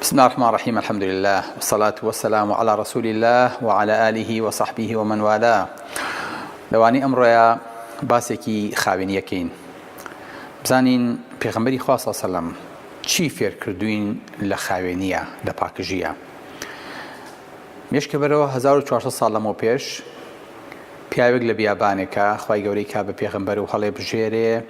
بسم اللە الرحمن الرحیم الحمد للە والصلاة والسلام علی رسول اللە وعلی آله وصحبه ومن والاه لەوانەی ئەمڕۆیە باسێکی خاوێنیەکەین بزانین پێغمبەری خوا صلی اللە علیه و سلم چی فێرکردوین لە خاوێنیە لە پاکژیە مێشکە بەرەوە 1400 ساڵ لەمەو پێش پیاوێک لە بیابانێکە خی گەورەی کا بە پێغمبەر و هەڵێ بژێرێ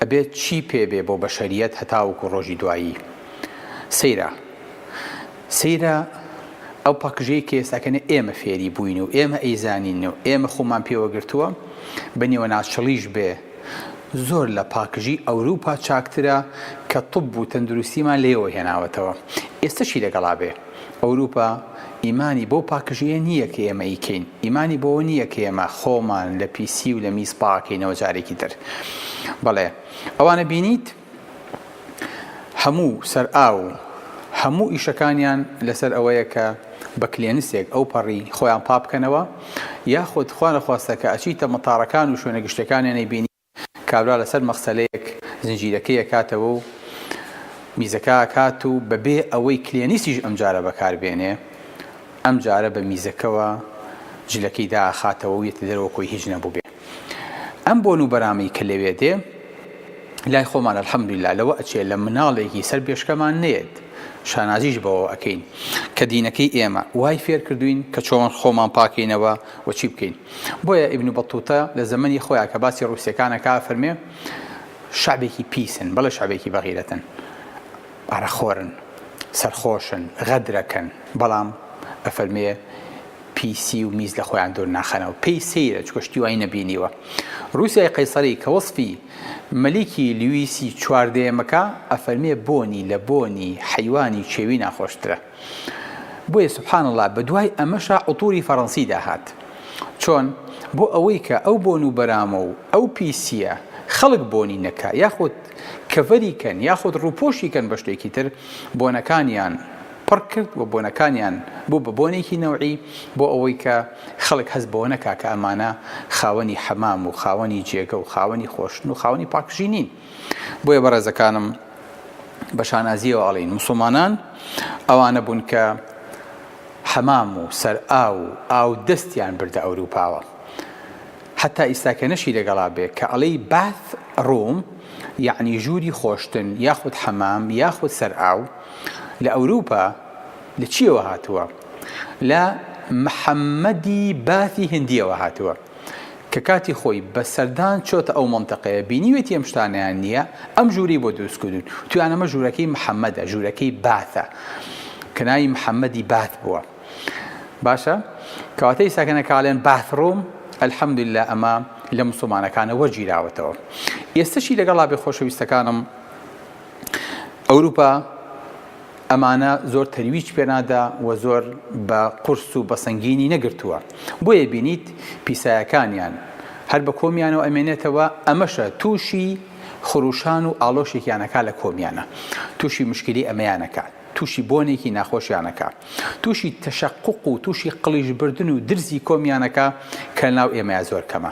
ئەبێت چی پێبێ بۆ بەشەریەت هەتاوکو ڕۆژی دوایی سەیرە سەیرە ئەو پەکژەی کە ئێستاکەنە ئێمە فێری بووین و ئێمە ئەیزانین و ئێمە خۆمان پێوەگرتووە بە نیوەناچڵیش بێ زۆر لە پاکژی ئەوروپا چاکترە کە طب و تەندروستیمان لێەوە هێناوەتەوە ئێستەشی لەگەڵا بێ ئەوروپا ئیمانی بۆ پاکژەیە نییە کە ئێمە ئیکەین ئیمانی بۆ نییە کە ئێمە خۆمان لە پیسی و لە میز پاکەینەوە جارێکی تر بەڵێ ئەوانە بینیت هەموو سەر ئاو و هەموو ئیشەکانیان لەسەر ئەوەیە کە بە کلێنسێک ئەو پەڕی خۆیان پاک بکەنەوە یاخود خوا نەخواستە کە ئەچیتە مەتاڕەکان و شوێنە گشتیەکانیان ئەیبینی کابرا لەسەر مەغسەلەیەک زنجیرەکەی ئەکاتەوە و میزەکە ئەکات و بەبێ ئەوەی کلێنسیش ئەمجارە بەکار بێنێ ئەمجارە بە میزەکەوە جلەکەی دائەخاتەوە و یەتە دەرەوە کۆی هیچ نەبووبێ. ئەم بۆن و بەرامی کە لەوێ دێ لای خۆمان الحمدللە لەوە ئەچێ لە مناڵێکی سەر بێشکەمان نێت شانازیش بەوە ئەکەین کە دینەکەی ئێمە وای فێر کردوین کە چۆن خۆمان پاکەینەوە و چی بکەین بۆیە ئیبن بەتوتە لە زەمەنی خۆیان کە باسی ڕوسەکانەکە فەرمێ شعبێکی پیسن بەڵێ شعبێکی بەغیرەتن ئارەخۆرن، سەرخۆشن، غەدرەکەن، بەڵام ئەفەرمێ پیسی و میز لەخۆیان دوور ناخەنەوە. پێی سەیرە، چونکە شتی وای نەبینیوە. روسیای قەیسەری کە وەسفی مەلیکی لویسی چواردەیەمەکا، ئەفەرمێ بۆنی لە بۆنی حەیوانی کێوی ناخۆشترە. بۆیە سبحان اللە بەدوای ئەمەشا عطوری فەرەنسیدا هات چۆن بۆ ئەوەی کە ئەو بۆن و بەرامە و ئەو پیسیە خەڵک بۆنی نەکا یاخود کەڤەری کەن یاخود ڕووپۆشی کەن بە شتێکی تر بۆنەکانیان پڕ کرد و بۆنەکانیان بوو بە بۆنێکی نەوعی بۆ ئەوەی کە خەڵک هەست بەوە نەکا کە ئەمانە خاوەنی حەمام و خاوەنی جێگە و خاوەنی خۆشن و خاوەنی پاکژی نین بۆیە بەڕێزەکانم بە شانازیەوە ئەڵین مسلمانان ئەوانە بوون کە حەمام و سەر ئاو و ئاو دەستیان بردە ئەوروپاوە حتا ئیستاکە نەشی لەگەڵا بێ کە ئەڵی باث ڕووم یعنی ژووری خۆشتن یاخود حەمام یاخود سەر ئاو لە ئەوروپا لە چیەوە هاتووە لە محەممەدی باثی هندیەوە هاتووە کە کاتی خۆی بە سەردان چۆتە ئەو مەنتەقەیە بینیوێتی ئەم شتانەیان نییە، ئەم ژوورەی بۆ دروست کردوون، وتویان ئەمە ژوورەکەی محەمەدە، ژوورەکەی باثە، کە ناوی محەمەدی باث بووە. باشە کەواتە ئیستا کە نەکاڵێن باث ڕووم، الحمدللە ئەمە لە موسڵمانەکانە وەرگیراوەتەوە. ئێستەشی لەگەڵا بێ خۆشەویستەکانم ئەوروپا، ئەمانە زۆر تەرویج پێ نادا و زۆر بە قورس و بە سەنگینی نەگرتووە، بۆیە بینیت پیسایەکانیان هەر بە کۆمیانەوە ئەمێنێتەوە، ئەمەشە تووشی خرووشان و ئاڵۆشێکیان ئەکا لە کۆمیانە، تووشی مشکلی ئەمەیان ئەکا، تووشی بۆنێکی ناخۆشیان ئەکا، تووشی تەشەقوق و تووشی قڵیشبردن و درزی کۆمیان ئەکا کە لەناو ئێمەیا زۆر کەمە.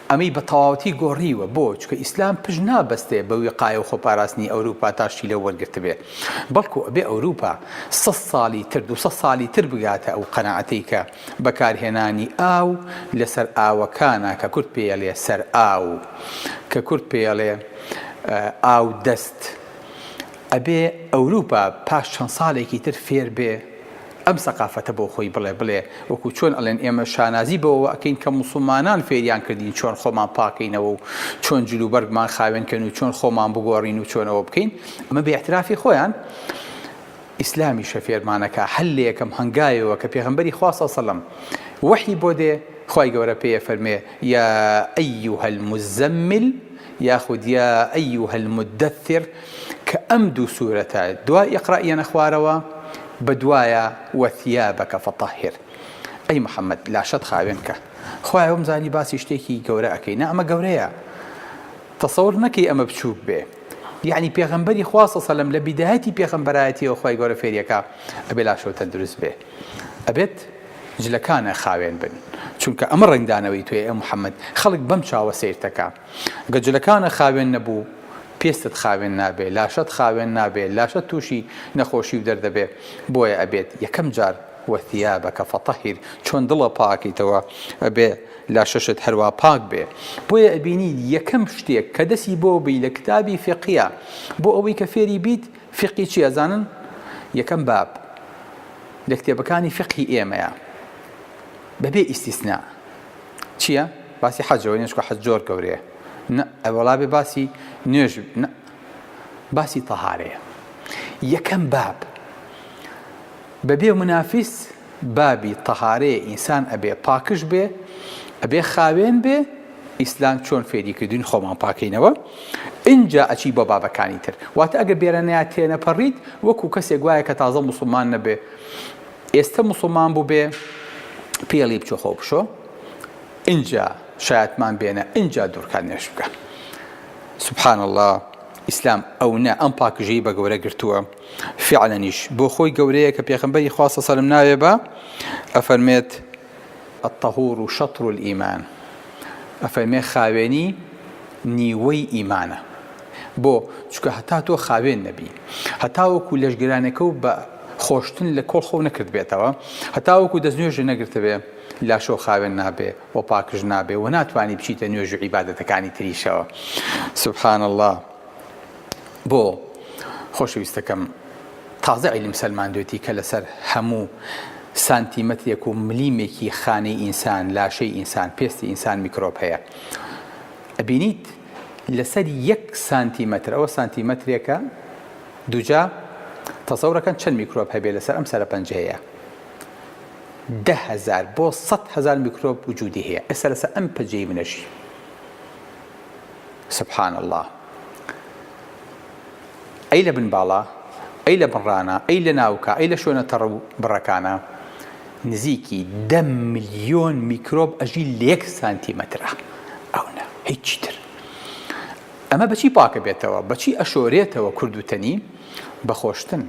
ئەمەی بە تەواوەتی گۆڕیوە، بۆ؟ چونکە ئیسلام پشت نابەستێ بە ویقایە و خۆپاراستنی ئەوروپا تا شتی لەو وەرگرتبێ، بەڵکو ئەبێ ئەوروپا سەد ساڵی تر، دوو سەد ساڵی تر بگاتە ئەو قەناعەتەی کە بەکارهێنانی ئاو لە سەرئاوەکانە کە کورد پێیەڵێ سەرئاو، کە کورد پێیەڵێ ئاو دەست، ئەبێ ئەوروپا پاش چەند ساڵێکی تر فێر بێ، ئەم سەقافەتە بۆ خۆی بڵێ بڵێ وەکو چۆن ئەڵێن ئێمە شانازی بەوەوە ئەکەین کە موسڵمانان فێریان کردین چۆن خۆمان پاکەینەوە و چۆن جل و بەرگمان خاوێن کەین و چۆن خۆمان بگۆڕین و چۆن ئەوە بکەین ئەمە بە ئیعترافی خۆیان ئیسلامیشە فێرمان ئەکا هەر لە یەکەم هەنگاوێەوە کە پێغەمبەری خوا صلی سەلەم وەحی بۆ دێ خوای گەورە پێیە فەرمێ یا ئەیوهە المزمل یاخود یا ئەیوهە المدثر کە ئەم دوو سورەتە دوای اقرا یەنە خوارەوە بە دوایە وثیابک فطهر ئەی محمد لاشەت خاوێن کە خوایە وەمزانی باسی شتێکی گەورە ئەکەی نا ئەمە گەورەیە تەسەور نەکەی ئەمە بچووک بێ یعنی پێغمبەری خوا سەلم لە بیدایەتی پێغمبەرایەتیەوە خی گەورە فێریەکە ئەبێ لاشەوە تەندروست بێ ئەبێت جلەکانە خاوێن بن چونکە ئەمە ڕنگدانەوەی توێ ئە محەممەد خەڵک بەم چاوە سیرتەکە گە جلەکانە خاوێن نە بوو پێستت خاوێن نابێ لاشەت خاوێن نابێ لاشەت توشی نە خۆشی و دەردە بێ بۆیە ئەبێت یەکەم جار وە ثیابەکە فەتەهیر چۆن دڵە پاکیتەوە ئەبێ لاشەشت هەروا پاک بێ بۆیە ئەبینی یەکەم شتێک کە دەسی بۆ بی لە کتابی فیقیە بۆ ئەوەی کە فێری بیت فیقی چی ئەزانن یەکەم باب لە کتێبەکانی فیقی ئێمەیە بە بێ ئیستیسنا. چیە باسی حەجەوە نوێژ کە حەج زۆر گەورەیە نە ئەوەڵا بێ باسی نوێژ نە باسی تەهارەیە یەکەم باب بەبێ منافیس بابی تەهارەیە ئینسان ئەبێ پاکش بێ ئەبێ خاوێن بێ ئیسلام چۆن فێری کردوین خۆمان پاکەینەوە اینجا ئەچی بۆ بابەکانی تر واتە ئەگە بێرەنەیە تێنەپەڕیت وەکو کەسێک وایە کە تازە مسلمان نەبێ ئێستە موسڵمان بوبێ پێڵی بچۆ خۆ بشۆ ئینجا شایەتمان بێنە ئینجا دورکان نوێژ بکە سبحان اللە ئیسلام ئەونە ئەم پاکژەی بە گەورە گرتووە فعلەنیش بۆ خۆی گەورەیە کە پێخمبەری خواستە سەرم ناوێ بە ئەفەرمێت الطهور شطر الایمان، ئەفەرمێ خاوێنی نیوەی ئیمانە، بۆ؟ چونکە هەتا تۆ خاوێن نەبی، هەتاوەکو لەشگرانێکە و بە خۆشتن لە کۆڵ خۆو نەکردبێتەوە، هەتاوەکو دەست نوێژێ نەگرتبێ، لاشەو خاوێن نابێ و پاکش نابێ و ناتوانی بچیتە نوێژ و عیبادەتەکانی تریشەوە. سبحان اللە. بۆ؟ خۆشەویستەکەم. تازە عیلم سەلماندوێتی کە لەسەر هەموو سانتیمەترێک و ملیمێکی خانەی ئینسان، لاشەی ئینسان، پێستی ئینسان میکرۆب هەیە. ئەبینیت لەسەر یەک سانتیمەتر، ئەوە سانتیمەترێکە، دووجا تەسەورەکەن چەند میکرۆب هەبێ لەسەر ئەم سەرەپەنجەیە. دە هەزار بۆ سەد هەزار میکرۆب وجودی هەیە. ئێستا لەسەر ئەم پەجەی منەشی. سبحان اللە. ئەی لە بن باڵا، ئەی لە بن ڕانا، ئەی لە ناوکا، ئەی لە شوێنە تەڕ و بڕەکانا نزیکی دە ملیۆن میکرۆب ئەژی لە یەک سانتیمەترا ئەو نا هیچی تر. ئەمە بە چی پاکەبێتەوە؟ بە چی ئەشۆرێتەوە کورد و تەنی؟ بە خۆشتن.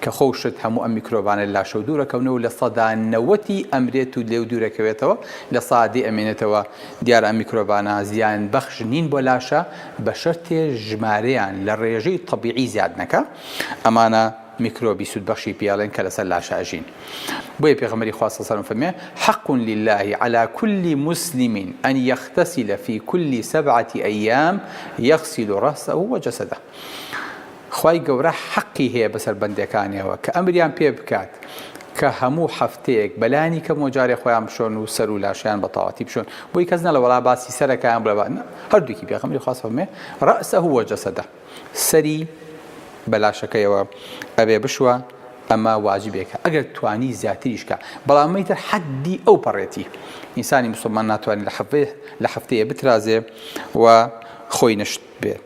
کە خۆ و شت هەموو ئەم میکرۆبانە لە لاشەوە دوور ئەکەونەوە و لە سەدا نەوەتی ئەمرێت و لێو دوور ئەکەوێتەوە لە سەا دەی ئەمێنێتەوە، دیارە ئەم میکرۆبانە زیان بەخش نین بۆ لاشە بە شەرتێ ژمارەیان لە ڕێژەی تەبیعی زیاد نەکا، ئەمانە میکرۆبی سوود بەخشی پێڵێن کە لەسەر لاشە ئەژین بۆیە پێغەمبەری خوا صلی اللە علیە وسلم فەرموویان، حق للە علی کل مسلم ان یغتسل فی کل سبعە ایام یغسل راسه و جسده. خوای گەورە حەقی هەیە بەسەر بەندەکانیەوە کە ئەمریان پێ بکات کە هەموو هەفتەیەک بەلانی کەمەوە جارێ خۆیان بشۆن و سەر و لاشیان بە تاواتی بشۆن بۆی کەس نەڵێ وەڵا باسی سەرەکەیان بڵێ با هەردووکی پێغەمبەری خوا فەرموێ رەسەه وجەسەدە سەری بە لاشەکەیەوە ئەبێ بشوە ئەمە واجبێکە ئەگەر توانی زیاتریش کا بەڵام مەیتر حەدی ئەو پەڕێتی ئینسانی مسلمان ناتوانێت لە حەفتەیە بترازێ و خۆی نەشت بێت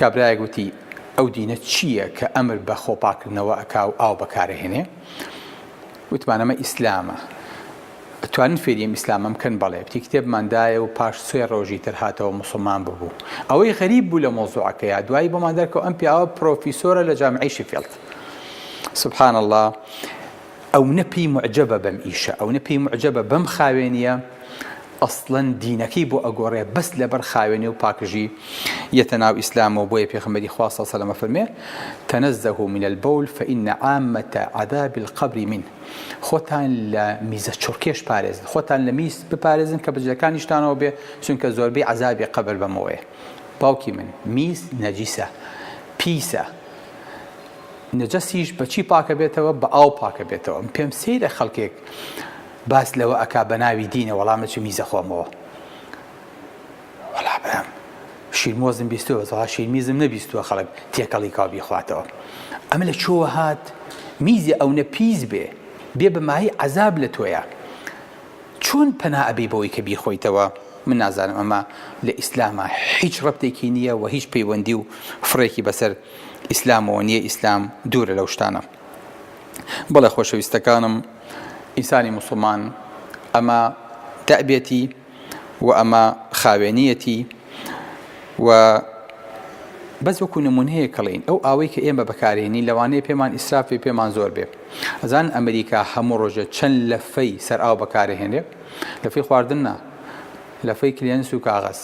کابرایەک وتی، ئەو دینە چییە کە ئەمر بە خۆپاککردنەوە ئەکا و ئاو بەکارئەهێنێ؟ وتمان، ئەمە ئیسلامە. ئەتوانن فێری ئەم ئیسلامە بکەن؟ بەڵێ. وتی، کتێبمان دایە و پاش سێ ڕۆژی تر هاتەوە موسڵمان ببوو. ئەوەی غەریب بوو لە مەوزوعەکەیا، دوایی بۆمان دەرکەوت ئەم پیاوە پرۆفیسۆرە لە جامعەی شفیڵد. سبحان اللە، ئەونە پێی موعجەبە بەم ئیشە، ئەونە پێی موعجەبە بەم خاوێنییە، ئەسڵەن دینەکەی بۆ ئەگۆڕێ بەس لەبەر خاوێنی و پاکژی یەتە ناو ئیسلامەوە بۆیە پێخەمبەری خوا سەڵ سەلەم ئەفەرمێ تەنەزەهو من البول فان عامەتە عذاب القبر من خۆتان لە میزە چڕکێش پارێزن خۆتان لە میز بپارێزن کە بەجلەکانیشتانەوە بێ چونکە زۆربەی عەزابی قەبر بەمەوەیە باوکی من میز نەجیسە پیسە نەجەسیش بەچی پاکە بێتەوە بە ئاو پاکە بێتەوە پێم سەیرە خەڵکێک باس لەوە ئەکا بەناوی دینە وەڵا مەچ میزە خۆمەوە وەڵا برام شیرمۆزم بیستوە بەسەڵا شیرمیزم نەبیستوە خەڵک تێکەڵی کاو بیخواتەوە ئەمە لە چۆوە هات میزی ئەونە پیس بێ بێ بەمایی عذاب لە تۆیە چۆن پەنا ئەبی بۆی کە بیخۆیتەوە من نازانم ئەمە لە ئیسلامە هیچ ڕەتێکی نییە و هیچ پەیوەندی و فڕێکی بەسەر ئیسلامەوە نییە ئیسلام دوورە لەو شتانە بەڵێ خۆشەویستەکانم ئینسانی موسڵمان ئەمە دەبێتی و ئەمە خاوێنیەتی و بەس وەکو نمونەیە کەڵین ئەو ئاوەی کە ئێمە بەکارێنی لەوانەیە پێمان ئیسرافی پێمان زۆر بێ ئەزان ئەمریکا هەموو ڕۆژە چەند لەفەی سەر ئاو بەکارهێنێ لەفی خواردن نا لەفەی کلێنس و کاغەز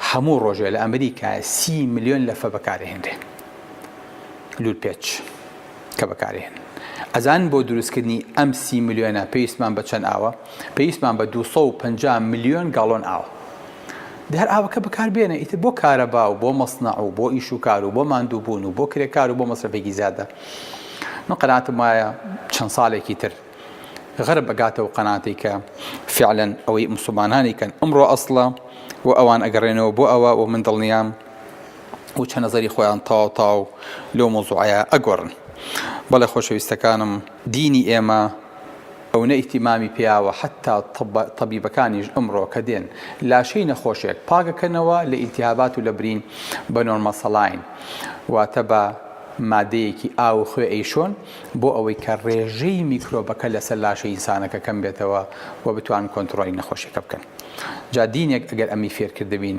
هەموو ڕۆژێ لە ئەمریکا سی میلیۆن لەفە بەکارهێنرێ لول پێچ کە بەکارێن ئەزان بۆ دروستکردنی ئەم سی ملیۆنە پێویستمان بە چەند ئاوە پێویستمان بە 250 ملیۆن گاڵۆن ئاوە دەر ئاوەکە بەکار بێنە ئیتر بۆ کارەبا و بۆ مەسنەع و بۆ ئیش و کار و بۆ ماندووبوون و بۆ کرێکار و بۆ مەسرەفێکی زیادە من قەناتم وایە چەند ساڵێکی تر غەرب بەگاتەوە قەناتی کە فعلەن ئەوەی مسلمانانی کەن ئەمڕۆ ئەسڵە و ئەوان ئەگەڕێنەوە بۆ ئەوە و من دڵنیام و چەنەزەری خۆیان تەواو تەواو لەو مەوزوعەیە ئەگۆڕن بەڵێ خۆشەویستەکانم دینی ئێمە ئەونە ئیتیمامی پیاوە حەتا تەبیبەکانیش ئەمڕۆ کە دێن لاشەی نەخۆشێک پاکەکەنەوە لە ئیلتیهابات و لە برین بە نۆرمە سەڵاین واتە بە مادەیەکی ئاو و خوێ ئەیشۆن بۆ ئەوەی کە ڕێژەی میکرۆبەکە لەسەر لاشە ئینسانەکە کەم بێتەوە و بتوان کۆنتڕۆلی نەخۆشیەکە بکەن جا دینێک ئەگەر ئەمی فێرکردبین